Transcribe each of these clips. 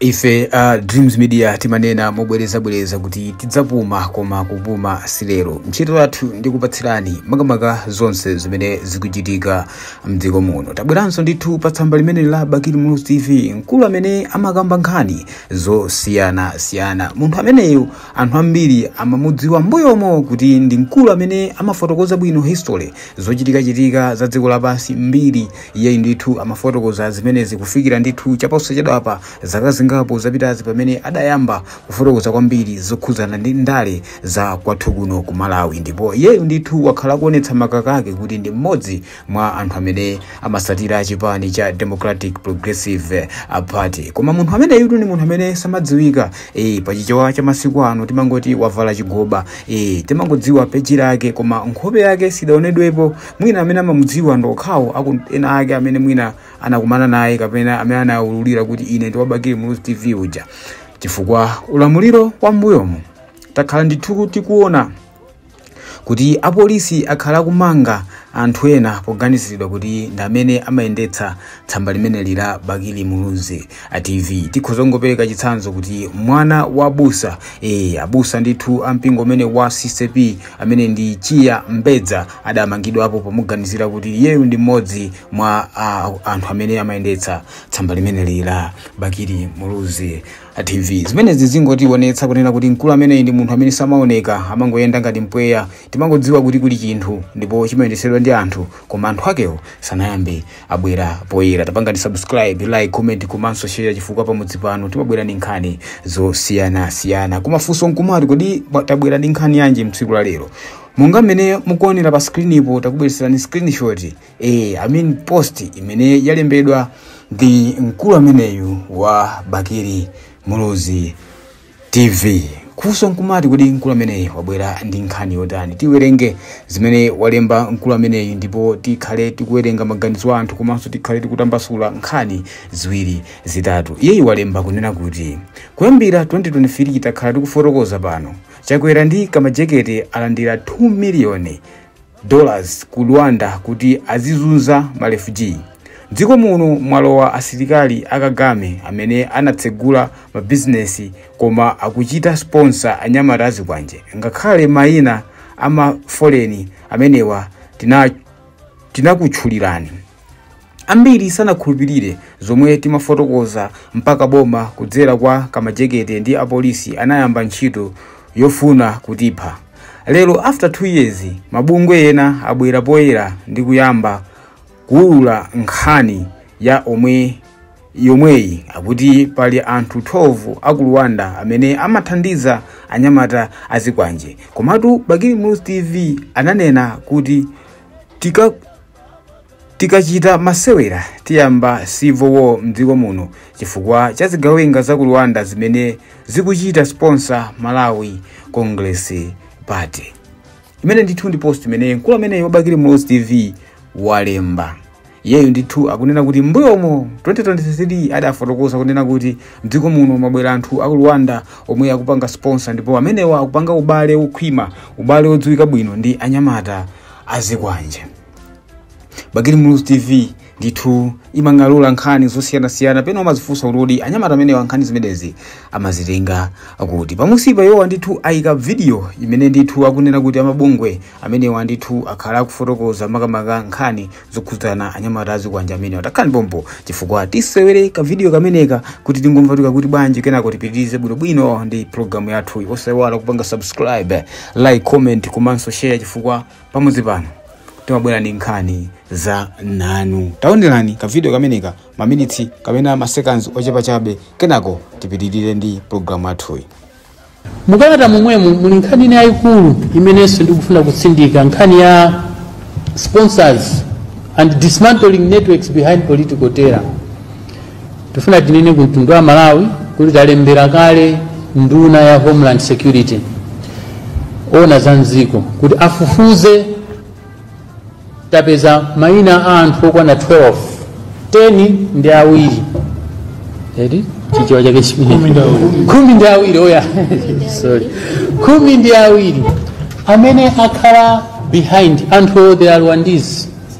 ife a dreams media timanena mobwerezabwereza kuti tidzapuma koma kupuma silero ntchito yathu ndi kupatsirani makamaka zonse zimene zikuchitika mdziko muno tabweranso ndithu pa tsamba limene la bakili muluzi tv mkulu amene amakamba nkhani zosiyanasiyana munthu ameneyo anthu ambiri amamudziwa mbuyomo kuti ndi mkulu amene amafotokoza bwino history zochitikachitika za dziko lapansi mbiri Iyeyu ndithu amafotokoza zimenezi kufikira ndithu chaposachedwapa zaka zingapo zapitazi pamene adayamba kufotokoza kwambiri zokhudzana ndi ndale za kwathu kuno ku Malawi ndipo iyeyu ndithu wakhala akuonetsa makaka ake kuti ndi mmodzi mwa anthu amene amatsatira chipani cha Democratic Progressive uh, Party koma munthu ameneyutu ndi munthu amene samadziwika eh, pa chichewa cha masiku ano timangoti wavala chigoba eh, timangodziwa peji lake koma nkhope yake sidaonedwepo mwina amene amamudziwa ndi okhawo aku ena ake amene mwina anakumana naye kapena amene anawaululira kuti ine ndi wa bakili muluzi tv uja chifukwa ulamuliro wa mbuyomo takhala ndithu tikuona kuti apolisi akhala akumanga anthu ena poganiziridwa kuti ndi amene amayendetsa tsamba limeneli la bakili muluzi a tv tikhoza kungopereka chitsanzo kuti mwana wa busa e, abusa ndithu a mpingo umene wa ccap amene ndi chiyembekeza adamangidwapo pomuganizira kuti iyeyu ndi mmodzi mwa a, anthu amene amayendetsa tsamba limeneli la bakili muluzi a tv zimenezi zingotionetsa kunena kuti mkulu ameneyi ndi munthu amene samaoneka amangoyenda ngati mpweya timangodziwa kuti kuli chinthu ndipo chimayendetsedwa ndi anthu koma anthu akewo sanayambe abwera poyera tapangani subscribe like comment komanso share chifukwa pamudzi pano timabwera ndi nkhani zosiyanasiyana kumafunso nkumati kodi ba- tabwera ndi nkhani yanji mtsiku la lero monga mmene mukuonera pa screen-po takubweretserani screenshot eh, I mean post imene yalembedwa ndi mkulu ameneyu wa bakili muluzi tv kufunso nkumati kodi mkulu ameneyi wabwera ndi nkhani yotani tiwerenge zimene walemba mkulu ameneyi ndipo tikhale tikuwerenga maganizo a anthu komanso tikhale tikutambasula nkhani ziwiri zitatu iyeyi walemba kunena kuti kuyambira 2023 takhala tikufotokoza pano chakwera ndi kamajeketi alandira 2 miliyoni dollars ku Rwanda kuti azizunza ma refugee. Mdziko muno mwalowa asilikali a Kagame amene anatsegula ma business koma akuchita sponsor anyamata azikwanje. Ngakhale maina a ma foleni amenewa tinakutchulirani. ambiri sanakhulupirire zomwe timafotokoza mpaka boma kudzera kwa kamajekete ndi apolisi anayamba ntchito yofuna kutipha lero after 2 years mabungwe ena abwera poyera ndi kuyamba kuulula nkhani yomweyi akuti pali anthu 12 aku rwanda amene amathandiza anyamata azikwanje komatu bakili muluzi tv ananena kuti ti Tikachita masewera tiyamba civil war mdziko muno chifukwa cha zigawenga za ku Rwanda zimene zikuchita sponsor Malawi Congress Party. Imeneyi ndithu ndi post imene mkulu ameneyo wa Bakili Muluzi TV walemba. Iyeyu ndithu akunena kuti mbuyomo 2023 adafotokoza kunena kuti mdziko muno mwabwera anthu a ku Rwanda omwe akupanga sponsor ndipo amenewa akupanga ubale wokhwima, ubale wodziwika bwino ndi anyamata azikwanje bakili muluzi tv ndithu imang'alula nkhani zosiyanasiyana pena umazifunsa kuti kodi anyamata amenewa nkhani zimenezi amazitenga kuti pamunsipa iwowa ndithu ayika vidiyo imene ndithu akunena kuti amabungwe amenewa ndithu akhala akufotokoza makamaka nkhani zokhudzana anyamata azikwanje amenewa takhalani pompo chifukwa tisewere kavidiyo kameneka kuti tingomva kuti kakuti bwanji kenako tipitirize bwinobwino ndi programu yathu osaiwala kupanga subscribe like comment komanso share chifukwa pamudzi pano timabwera ndi nkhani zamnanu taonelani kavidiyo kameneka maminitsi kapena masekanzi ochepa chabe kenako tipitirire ndi programu yathuyi mukalata momwemo muli nkhani ina yayikulu imenenso ndikufuna kutsindika nkhani ya sponsors and dismantling networks behind political terror tifuna tinene ku mtundu wa malawi kuti talembera kale nduna ya homeland security ona za mdziko kuti afufuze tapeza maina a anthu okwana 12 10 ndi awiri eti chichewa chake chimenecho khumi ndi awiri oya sorry khumi ndi awiri amene akhala behind anthuwo they are rwandese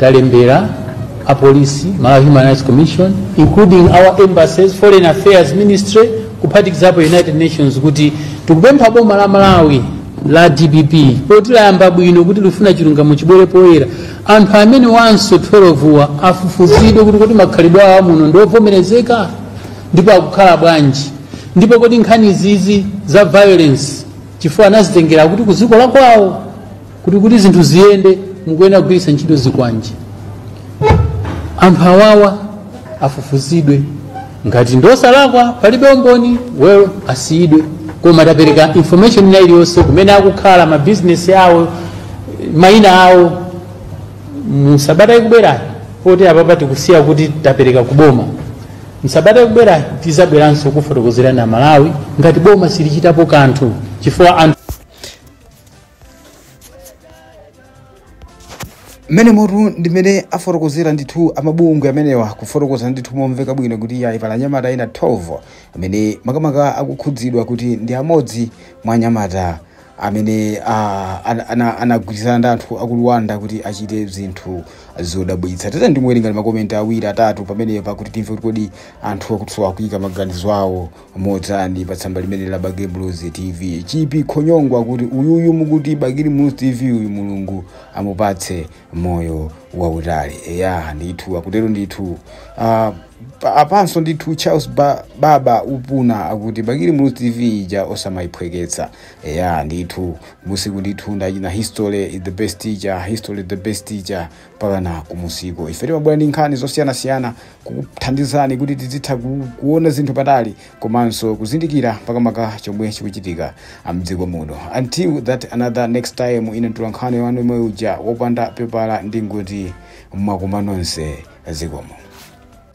talembera apolisi malawi human rights commission including our embassies foreign affairs ministry kuphatikizapo united nations kuti tikupempha boma la malawi la dpp poti layamba bwino kuti lifuna chilungamo chibwere poyera anthu amenewanso 12 wa afufuzidwe kuti kodi makhalidwe awo amuno ndiovomerezeka ndipo akukhala bwanji ndipo kodi nkhanizi za violence chifukwa anazitengera kuti ku dziko lakwawo kuti kuti zinthu ziyende mukuyenera kugwiritsa ntchito zikwanje anthu awawa afufuzidwe ngati ndi osalakwa palibe umboni well asiyidwe koma tapereka information ina iliyonse kumene akukhala mabizinesi awo mayina awo msabata ikubwerayi poti apapa tikusiya kuti tapereka kuboma msabata ikubwerayi tizabweranso kufotokozera amalawi ngati boma silichitapo kanthu chifukwa anthu mmenemotu ndimene afotokozera ndithu amabungwe amenewa kufotokoza ndithu momveka bwino kuti iyayi pali anyamata ena 12 amene makamaka akukhudzidwa kuti ndi amodzi mwa anyamata amene ah, ana- ana- anagwirizana ndi anthu aku rwanda kuti achite zinthu zodabwitsa tate ndiwerengeko makomenti awiri atatu pamenepa kuti timve kuti kodi anthu akutha kuika maganizo awo motani pa tsamba limeneli la bakili muluzi tv chipi khonyongwa akuti uyuyu mukuti bakili muluzi tv uyu mulungu amupatse moyo wautali eya ndithu akutero ndithu uh, pa- apanso ndithu charles ba, baba upuna akuti bakili muluzi tv ija osamayiphweketsa eya ndithu usiku ndithu ndatchena history is the best teacher history is the best teacher mpakana kumusiku ife timabwera ndi nkhani zosiyanasiyana kukuthandizani kuti tizitha ku- kuona zinthu patali komanso kuzindikira makamaka chomwe chikuchitika mdziko muno until that another next time ine mtula nkhani wanu yemwe uja wopanda pepala ndingoti mwakoma nonse zikomo